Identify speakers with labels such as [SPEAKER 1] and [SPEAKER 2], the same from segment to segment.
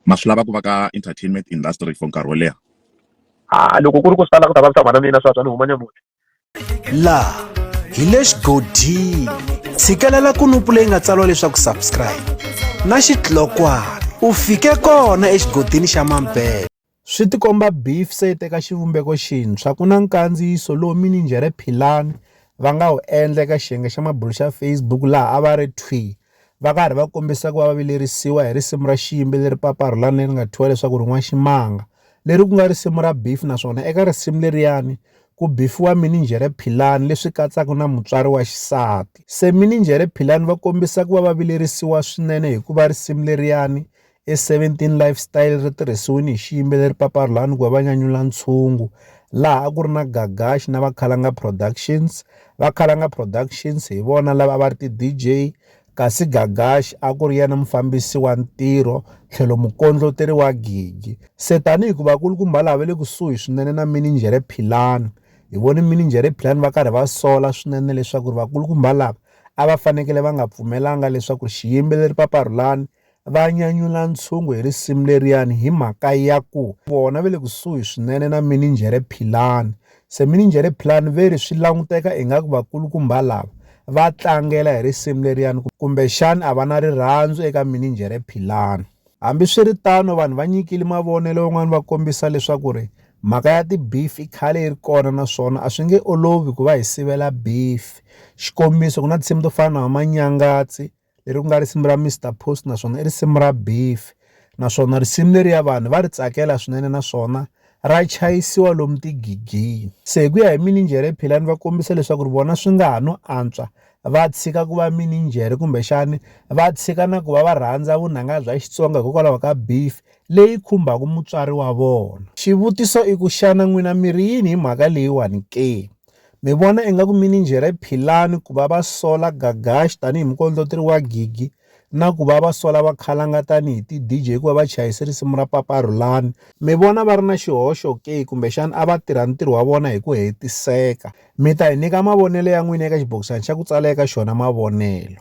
[SPEAKER 1] Ma swi lava ku va ka entertainment industry for nkarhi wo leha? Haa loko ku ri ku swi ta lava ku ta vavisa mhana mina swa twa ni huma ni ya muti. Laha hi le xigodini. Tshikelela kunupu leyi nga tsariwa leswaku subscribe na xitlokwana u fike kona exigodini xa Mambele. Swi tikomba beef se yi teka xivumbeko xintshwa ku na nkandziyiso lowu mininjhere Philani va nga wu endla eka xiyenge xa mabulo xa Facebook laha a va ri thwii va karhi va kombisa ku va va vilerisiwa hi risimu ra xiyimbeleri leri papa Rhulani leri nga thyiwa leswaku rin'wana ximanga leri ku nga risimu ra beef naswona eka risimu leriyani ku bifiwa mininjhere Philani leswi katsaka na mutswari wa xisati se mininjhere Philani va kombisa ku va va vilerisiwa swinene hikuva risimu leriyani I 17 Lifestyle ri tirhisiwile hi xiyimbeleri Papa Rhulani ku va va nyanyula ntshungu laha a ku ri na Gagax na Vakhalanga Productions. Vakhalanga Productions hi vona lava a va ri ti-DJ kasi Gagax a ku ri yena mufambisi wa ntirho tlhelo mukondloteri wa gigi. Se tanihi ku vakulukumba lava va le kusuhi swinene na mininjhere Philani, hi vone mininjhere Philani va karhi va sola swinene leswaku vakulukumba lava a va fanekele va nga pfumelanga leswaku xiyimbeleri Papa Rhulani va nyanyula ntshungu hi risimu leriyani hi mhaka ya ku vona ve le kusuhi swinene na mininjhere Philani se mininjhere Philani ve ri swi languteka ingaku vakulukumba lava va tlangela hi risimu leriyani kumbexani a va na rirhandzu eka mininjhere Philani hambi swi ri tano vanhu va nyikile mavonelo van'wana va kombisa leswaku ri mhaka ya tibeef i khale yi ri kona naswona a swi nge olovi ku va hi sivela beef xikombiso ku na tinsimu to fana na vamanyangatsi leri ku nga risimu ra Mister Post naswona i risimu ra beef naswona risimu leriya vanhu va ri tsakela swinene naswona ra chayisiwa lomu tigigini se hi ku ya hi mininjhere philani va kombisa leswaku ri vona swi nga ha no antswa va tshika ku va mininjhere kumbexani va tshika na ku va va rhandza vunanga bya xitsonga hikokwalaho ka beef leyi khumbaka mutswari wa vona xivutiso i ku xana n'wina miri yini hi mhaka leyiwani ke Mi vona ingaku mininjhere Philani ku va va sola Gagash tanihi mukondloteri wa gigi na ku va va sola Vakhalanga tanihi ti-DJ ku va va chayise risimu ra Papa Rhulani, mi vona va ri na xihoxo ke kumbexana a va tirha ntirho wa vona hi ku hetiseka? Mi ta hi nyika mavonelo ya n'wina eka xibokisana xa ku tsala eka xona mavonelo.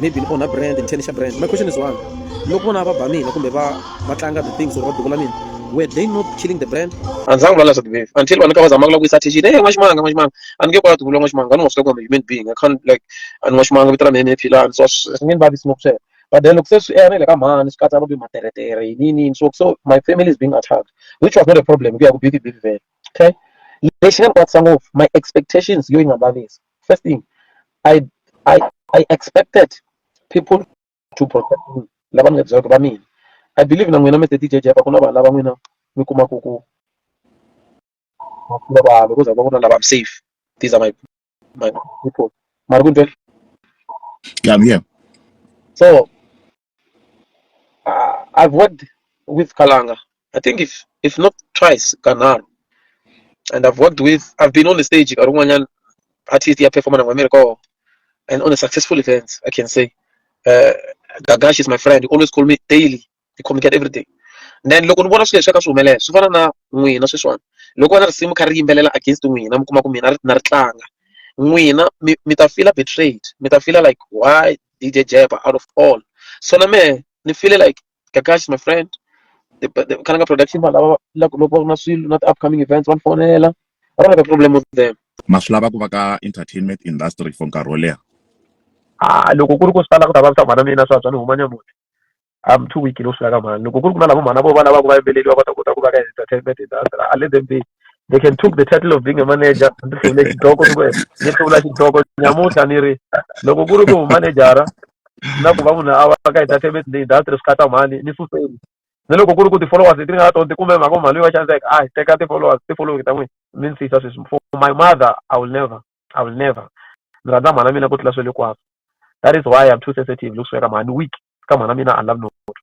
[SPEAKER 1] maybe ni onha brand ni tlhe ni xa brand my question is one loko vona va ba mina kumbe va va tlanga the things or va duvula mina were they not killing the brand a ndzi zangi vula leswaku baby until vanhu ka va zamaka la ku yisa attention hey n'waximanga n'waximanga a ni nge kwati vula n'waximanga va ni nga swi kota human being i can't like a ni n'waximanga vito ra mina ni philani so swi nge ni vavisi ngopfu sweswo but then loko se swi ene le ka mhani swi katsa kumbe materetere yini yini yini so so my family is being attacked which was not a problem ku ya ku bifi bifi vele okay lexi nga ni kwatisa ngopfu my expectations yo yi nga vavisi First thing, I I I expected people to protect me. Lava mi nga byela ku va mina. I believe na n'wina mi te DJ Japa ku na vanhu lava n'wina mi kuma ku ku va vanhu ku za va ku na lava I'm safe. These are my my people. Mara ku ntwe. Yeah, I'm here. So Uh, I've worked with Kalanga. I think if if not twice, Kanar. And I've worked with. I've been on the stage. Karunganyan artist ya performer na America, and on a successful event, I can say. Uh, Gagash is my friend. He always call me daily. He communicate every day. And then loko ni vona swilo leswi ka swi humelela swi fana na n'wina sweswiwani loko va na risimu kha ri yimbelela against n'wina mi kuma ku mina na ri tlanga n'wina mi ta fila betrayed mi ta fila like why DJ Jab out of all. So na me ni feel like Kakashi is my friend. The, the Kananga production vanhu lava loko loko va ri na swilo na ti-upcoming events va ni fonela. I don't have a problem with them. ma swi lava ku va ka entertainment industry for nkarhi wo leha Ah loko ku ri ku swi ta lava ku ta vavisa mhana mina swa swa ni huma nyamuti. I'm too weak no swi lava ka mhani loko ku ri ku na lavo mhana vo va lava ku va yimbeleli va va ta kota ku va ka entertainment industry I let them be they can took the title of being a manager ndzi hluvule xidloko ni ku ni hluvula xidloko nyamuntlha ni ri loko ku ri ku manejara na ku va munhu a va ka entertainment leyi industry swi khata mhani ni suseni ni loko ku ri ku ti-followers leti ni nga na tona ti kume mhaka mhani loyi va xaniseke a hi teka ti-followers ti-following ta n'wina mi ni siyisa sweswi for my mother I will never I will never ndzi rhandza mhana mina ku tlula swilo hinkwaswo that is why I'm too sensitive loko swi ya ka mhani weak ka mhana mina I love nobody